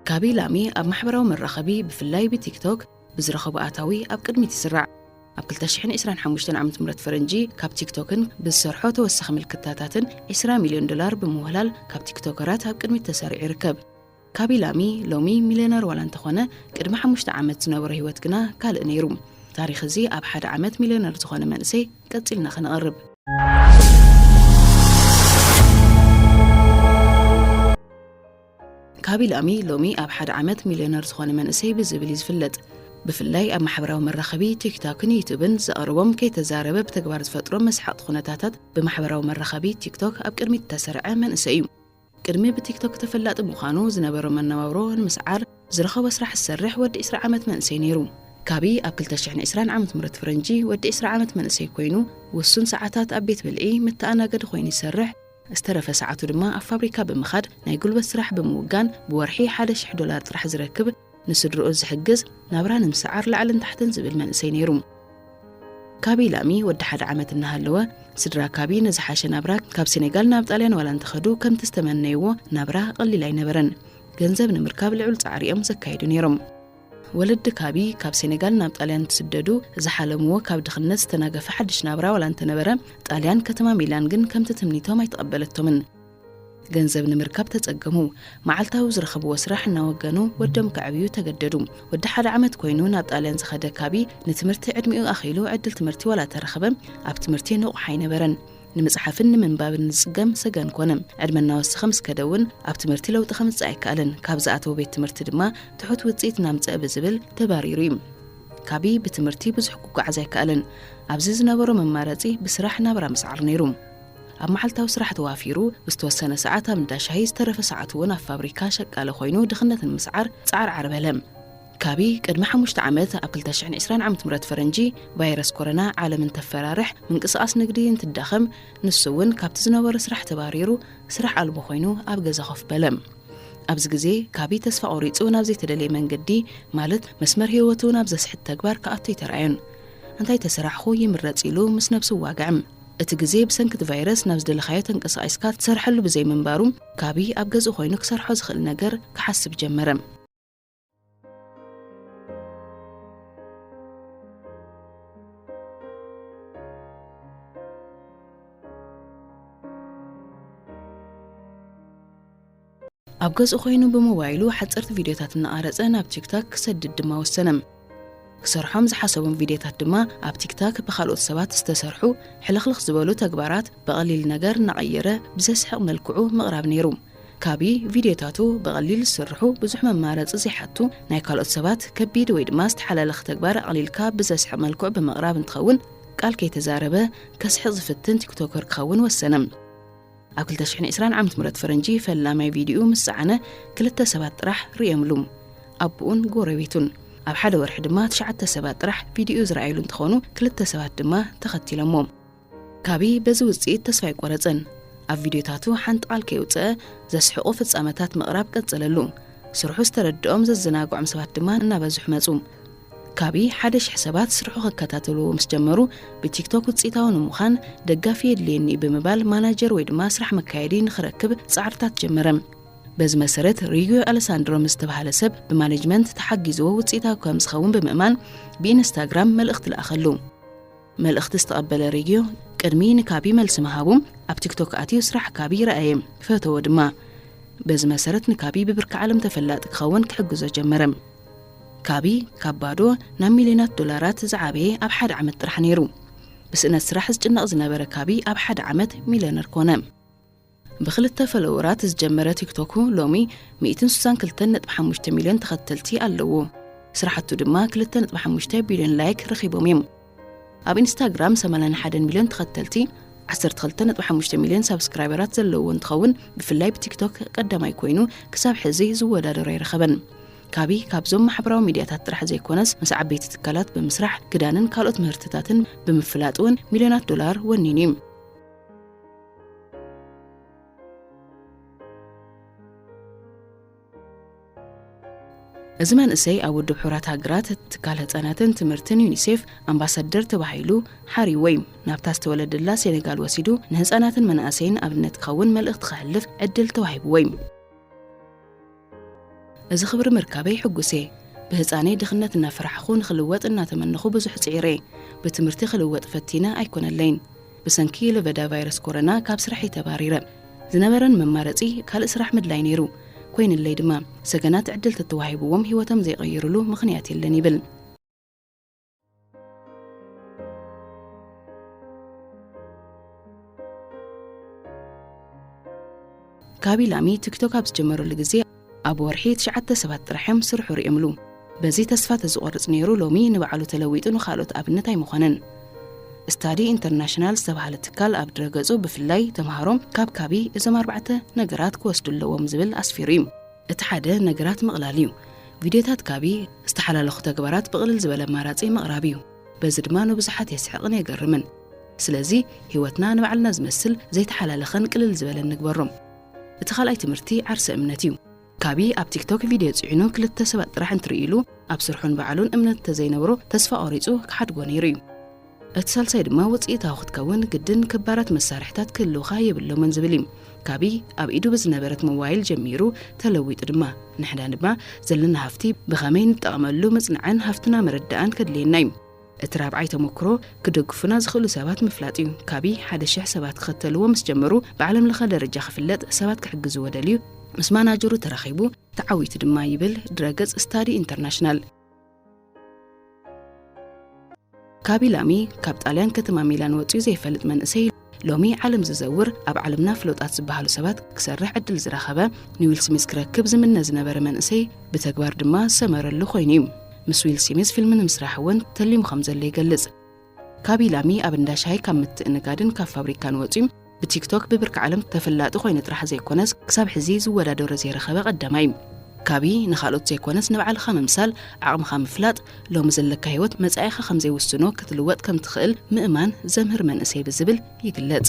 ጋቢ ላሚ ኣብ ማሕበራዊ መራኸቢ ብፍላይ ብቲክቶክ ብዝረኸቡ ኣታዊ ኣብ ቅድሚት ይስራዕ ኣብ 225 ዓ ም ፈረንጂ ካብ ቲክቶክን ብዝሰርሖ ተወሳኺ ምልክታታትን 20 ሚልዮን ዶላር ብምውህላል ካብ ቲክቶከራት ኣብ ቅድሚት ተሰሪዑ ይርከብ ካቢላሚ ሎሚ ሚልዮነር ዋላ እንተኾነ ቅድሚ ሓሙሽተ ዓመት ዝነበሮ ህይወት ግና ካልእ ነይሩ። ታሪኽ እዚ ኣብ ሓደ ዓመት ሚልዮነር ዝኾነ መንእሰይ ቀጺልና ከነቕርብ። ካቢላሚ ሎሚ ኣብ ሓደ ዓመት ሚልዮነር ዝኾነ መንእሰይ ብዝብል እዩ ዝፍለጥ። ብፍላይ ኣብ ማሕበራዊ መራኸቢ ቲክቶክን ዩቱብን ዘቕርቦም ከይተዛረበ ብተግባር ዝፈጥሮም መስሓቕቲ ኩነታታት ብማሕበራዊ መራኸቢ ቲክቶክ ኣብ ቅድሚት እተሰርዐ መንእሰይ እዩ። ቅድሚ ብቲክቶክ ተፈላጢ ምዃኑ፣ ዝነበሮ መነባብሮ ንምስዓር ዝረኸቦ ስራሕ ዝሰርሕ ወዲ ዕስራ ዓመት መንእሰይ ነይሩ። ካብይ ኣብ ክልተ ሽሕን ዕስራን ዓመተምህረት ፈረንጂ ወዲ ዕስራ ዓመት መንእሰይ ኮይኑ፣ ውሱን ሰዓታት ኣብ ቤት ብልዒ መተኣናገዲ ኮይኑ ይሰርሕ፣ ዝተረፈ ሰዓቱ ድማ ኣብ ፋብሪካ ብምኻድ ናይ ጉልበት ስራሕ ብምውጋን ብወርሒ ሓደ ሽሕ ዶላር ጥራሕ ዝረክብ፣ ንስድርኡ ዝሕግዝ ናብራ ንምስዓር ላዕልን ታሕትን ዝብል መንእሰይ ነይሩ። ካቢ ላሚ ወዲ ሓደ ዓመት እናሃለወ ስድራ ካቢ ንዝሓሸ ናብራ ካብ ሴኔጋል ናብ ጣልያን ዋላ እንተኸዱ ከምቲ ዝተመነይዎ ናብራ ቐሊል ኣይነበረን። ገንዘብ ንምርካብ ልዑል ጻዕሪ እዮም ዘካይዱ ነይሮም። ወለዲ ካቢ ካብ ሴኔጋል ናብ ጣልያን እንትስደዱ ዝሓለምዎ ካብ ድኽነት ዝተናገፈ ሓድሽ ናብራ ዋላ እንተነበረ ጣልያን ከተማ ሚላን ግን ከምቲ ትምኒቶም ኣይተቐበለቶምን። ገንዘብ ንምርካብ ተጸገሙ። መዓልታዊ ዝረኸብዎ ስራሕ እናወገኑ ወዶም ከዕብዩ ተገደዱ። ወዲ ሓደ ዓመት ኮይኑ ናብ ጣልያን ዝኸደ ካቢ ንትምህርቲ ዕድሚኡ ኣኺሉ ዕድል ትምህርቲ ዋላ ተረኸበ ኣብ ትምህርቲ ንቑሕ ኣይነበረን። ንምጽሓፍን ንምንባብን ዝጽገም ሰገን ኮነ። ዕድመ እናወሰኸ ምስ ከደ እውን ኣብ ትምህርቲ ለውጢ ከምጽእ ኣይከኣለን። ካብ ዝኣተወ ቤት ትምህርቲ ድማ ትሑት ውጽኢት እናምጽአ ብዝብል ተባሪሩ እዩ። ካቢ ብትምህርቲ ብዙሕ ክጓዓዝ ኣይከኣለን። ኣብዚ ዝነበሮ መማረጺ ብስራሕ ናብራ ምስዓር ነይሩ። ኣብ መዓልታዊ ስራሕ ተዋፊሩ ዝተወሰነ ሰዓት ኣብ እንዳ ሻሂ ዝተረፈ ሰዓቱ እውን ኣብ ፋብሪካ ሸቃሊ ኮይኑ ድኽነት ንምስዓር ጻዕርዓር በለ። ካቢ ቅድሚ ሓሙሽተ ዓመት ኣብ ክልተ ሽሕን ዕስራን ዓመት ምረት ፈረንጂ ቫይረስ ኮረና ዓለም እንተፈራርሕ ምንቅስቓስ ንግዲ እንትዳኸም ንሱ እውን ካብቲ ዝነበሮ ስራሕ ተባሪሩ ስራሕ ኣልቦ ኮይኑ ኣብ ገዛ ኮፍ በለ። ኣብዚ ግዜ ካቢ ተስፋ ቆሪጹ ናብ ዘይተደለየ መንገዲ ማለት መስመር ህይወቱ ናብ ዘስሕት ተግባር ክኣቱ ኣይተራእዮን። እንታይ ተሰራሕኹ ይምረጽ ኢሉ ምስ ነብሱ ዋግዕም። እቲ ግዜ ብሰንኪ እቲ ቫይረስ ናብ ዝደለኻዮ ተንቀሳቒስካ ትሰርሐሉ ብዘይምንባሩ፣ ጋቢ ኣብ ገዝኡ ዀይኑ ክሰርሖ ዝኽእል ነገር ክሓስብ ጀመረ። ኣብ ገዝኡ ኮይኑ ብሞባይሉ ሓጸርቲ ቪድዮታት እናቐረጸ ናብ ቲክታክ ክሰድድ ድማ ወሰነ። ክሰርሖም ዝሓሰቦም ቪድዮታት ድማ ኣብ ቲክታክ ብካልኦት ሰባት ዝተሰርሑ ሕልኽልኽ ዝበሉ ተግባራት ብቐሊል ነገር እናቐየረ ብዘስሕቕ መልክዑ ምቕራብ ነይሩ። ካቢ ቪድዮታቱ ብቐሊል ዝስርሑ ብዙሕ መማረጺ ዘይሓቱ ናይ ካልኦት ሰባት ከቢድ ወይ ድማ ዝተሓላለኸ ተግባር ኣቕሊልካ ብዘስሕቕ መልክዑ ብምቕራብ እንትኸውን ቃል ከይተዛረበ ከስሕቕ ዝፍትን ቲክቶከር ክኸውን ወሰነ። ኣብ ክልተ ሽሕን ዕስራን ዓመት ምረት ፈረንጂ ፈላማይ ቪድዩኡ ምስ ጸዓነ ክልተ ሰባት ጥራሕ ርእየምሉ፣ ኣቡኡን ጎረቤቱን። ኣብ ሓደ ወርሒ ድማ ትሽዓተ ሰባት ጥራሕ ቪድዩኡ ዝረኣዩሉ እንትኾኑ ክልተ ሰባት ድማ ተኸቲሎሞ። ካቢ በዚ ውጽኢት ተስፋ ኣይቆረጸን። ኣብ ቪድዮታቱ ሓንቲ ቃል ከየውጸኣ ዘስሕቑ ፍጻመታት ምቕራብ ቀጸለሉ። ስርሑ ዝተረድኦም ዘዘናግዖም ሰባት ድማ እናበዝሑ መጹ። ካቢ ሓደ ሽሕ ሰባት ስርሑ ክከታተልዎ ምስ ጀመሩ ብቲክቶክ ውጽኢታዊ ንምዃን ደጋፊ የድልየኒ'ዩ ብምባል ማናጀር ወይ ድማ ስራሕ መካየዲ ንኽረክብ ጻዕርታት ጀመረ። በዚ መሰረት ሪጉዮ ኣለሳንድሮ ምስ ዝተብሃለ ሰብ ብማነጅመንት ተሓጊዝዎ ውጽኢታዊ ከም ዝኸውን ብምእማን ብኢንስታግራም መልእኽቲ ለኣኸሉ። መልእኽቲ ዝተቐበለ ሬግዮ ቅድሚ ንካቢ መልሲ ምሃቡ ኣብ ቲክቶክ ኣትዩ ስራሕ ካቢ ረኣየ ፈተዎ ድማ በዚ መሰረት ንካቢ ብብርኪ ዓለም ተፈላጢ ክኸውን ክሕግዞ ጀመረ ካቢ ካብ ባዶ ናብ ሚልዮናት ዶላራት ዝዓበየ ኣብ ሓደ ዓመት ጥራሕ ነይሩ ብስእነት ስራሕ ዝጭነቕ ዝነበረ ካቢ ኣብ ሓደ ዓመት ሚልዮነር ኮነ ብክልተ ፈለወራት ዝጀመረ ቲክቶኩ ሎሚ ሚእትን ስሳን ክልተን ነጥቢ ሓሙሽተ ሚልዮን ተኸተልቲ ኣለዎ። ስራሕቱ ድማ ክልተ ነጥቢ ሓሙሽተ ቢልዮን ላይክ ረኺቦም እዮም። ኣብ ኢንስታግራም ሰማንያን ሓደን ሚልዮን ተኸተልቲ ዓሰርተ ክልተ ነጥቢ ሓሙሽተ ሚልዮን ሳብስክራይበራት ዘለዎ እንትኸውን ብፍላይ ብቲክቶክ ቀዳማይ ኮይኑ ክሳብ ሕዚ ዝወዳደሮ ኣይረኸበን። ካቢ ካብዞም ማሕበራዊ ሚድያታት ጥራሕ ዘይኮነስ ምስ ዓበይቲ ትካላት ብምስራሕ ክዳንን ካልኦት ምህርትታትን ብምፍላጥ እውን ሚልዮናት ዶላር ወኒኑ እዩ። እዚ መንእሰይ ኣብ ውድብ ሕራት ሃገራት ትካል ህፃናትን ትምህርትን ዩኒሴፍ ኣምባሳደር ተባሂሉ ሓሪ ወይ ናብታ ዝተወለደላ ሴኔጋል ወሲዱ ንህፃናትን መናእሰይን ኣብነት ክኸውን መልእኽቲ ከሕልፍ ዕድል ተዋሂብዎ እዩ። እዚ ክብሪ ምርካበይ ሕጉስ'የ። ብህጻነይ ድኽነት እናፈራሕኹ ንኽልወጥ እናተመነኹ ብዙሕ ጽዒረ'የ። ብትምህርቲ ክልወጥ ፈቲነ ኣይኮነለይን። ብሰንኪ ለበዳ ቫይረስ ኮረና ካብ ስራሕይ ተባሪረ። ዝነበረን መማረጺ ካልእ ስራሕ ምድላይ ነይሩ። ኮይንለይ ድማ። ሰገናት ዕድል ተተዋሂብዎም ህይወቶም ዘይቐይርሉ ምኽንያት የለን ይብል። ጋቢ ላሚ ቲክቶክ ኣብ ዝጀመረሉ ግዜ ኣብ ወርሒ ትሽዓተ ሰባት ጥራሕ እዮም ስርሑ ርእዮምሉ በዚ ተስፋ ተዝቆርጽ ነይሩ ሎሚ ንባዕሉ ተለዊጡ ንኻልኦት ኣብነት ኣይምኾነን ስታዲ ኢንተርናሽናል ዝተባሃለ ትካል ኣብ ድረገጹ ብፍላይ ተምሃሮ ካብ ካቢ እዞም ኣርባዕተ ነገራት ክወስዱ ኣለዎም ዝብል ኣስፊሩ እዩ እቲ ሓደ ነገራት ምቕላል እዩ። ቪድዮታት ካቢ ዝተሓላለኹ ተግባራት ብቕልል ዝበለ ኣማራጺ ምቕራብ እዩ። በዚ ድማ ንብዙሓት የስሕቕን የገርምን። ስለዚ ህይወትና ንባዕልና ዝመስል ዘይተሓላለኸን ቅልል ዝበለን ንግበሮ። እቲ ካልኣይ ትምህርቲ ዓርሰ እምነት እዩ። ካቢ ኣብ ቲክቶክ ቪድዮ ጽዒኑ ክልተ ሰባት ጥራሕ እንትርእዩሉ ኣብ ስርሑን በዓሉን እምነት እንተዘይነብሮ ተስፋ ቆሪጹ ክሓድጎ ነይሩ እዩ። እቲ ሳልሳይ ድማ ውፅኢታዊ ክትከውን ግድን ክባራት መሳርሕታት ክህልውኻ የብሎምን ዝብል እዩ። ካብይ ኣብ ኢዱ ብዝነበረት ሞባይል ጀሚሩ ተለዊጡ ድማ ንሕና ድማ ዘለና ሃፍቲ ብኸመይ ንጠቐመሉ ምፅናዕን ሃፍትና ምርዳእን ከድልየና እዩ። እቲ ራብዓይ ተሞክሮ ክደግፉና ዝኽእሉ ሰባት ምፍላጥ እዩ። ካብይ ሓደ ሽሕ ሰባት ክኸተልዎ ምስ ጀመሩ ብዓለም ለኸ ደረጃ ክፍለጥ ሰባት ክሕግዝዎ ደልዩ ምስ ማናጀሩ ተራኺቡ ተዓዊቱ ድማ ይብል ድረ ገፅ ስታዲ ኢንተርናሽናል። ካቢላሚ ካብ ጣልያን ከተማ ሚላን ወፂኡ ዘይፈልጥ መንእሰይ ሎሚ ዓለም ዝዘውር ኣብ ዓለምና ፍሎጣት ዝበሃሉ ሰባት ክሰርሕ ዕድል ዝረኸበ ንዊል ስሚዝ ክረክብ ዝምነ ዝነበረ መንእሰይ ብተግባር ድማ ዝሰመረሉ ኮይኑ እዩ ምስ ዊል ስሚዝ ፊልሚ ንምስራሕ እውን ተሊሙ ከም ዘሎ ይገልፅ ካብ ኢላሚ ኣብ እንዳ ሻሂ ካብ ምትእንጋድን ካብ ፋብሪካን ወጺኡ ብቲክቶክ ብብርኪ ዓለም ተፈላጢ ኮይኑ ጥራሕ ዘይኮነስ ክሳብ ሕዚ ዝወዳደሮ ዘይረኸበ ቀዳማይ እዩ። ካብይ ንኻልኦት ዘይኮነስ ንባዕልኻ ምምሳል፣ ዓቕምኻ ምፍላጥ፣ ሎሚ ዘለካ ህይወት መጻኢኻ ከምዘይውስኖ ክትልወጥ ከምትኽእል ምእማን ዘምህር መንእሰይ ብዝብል ይግለጽ።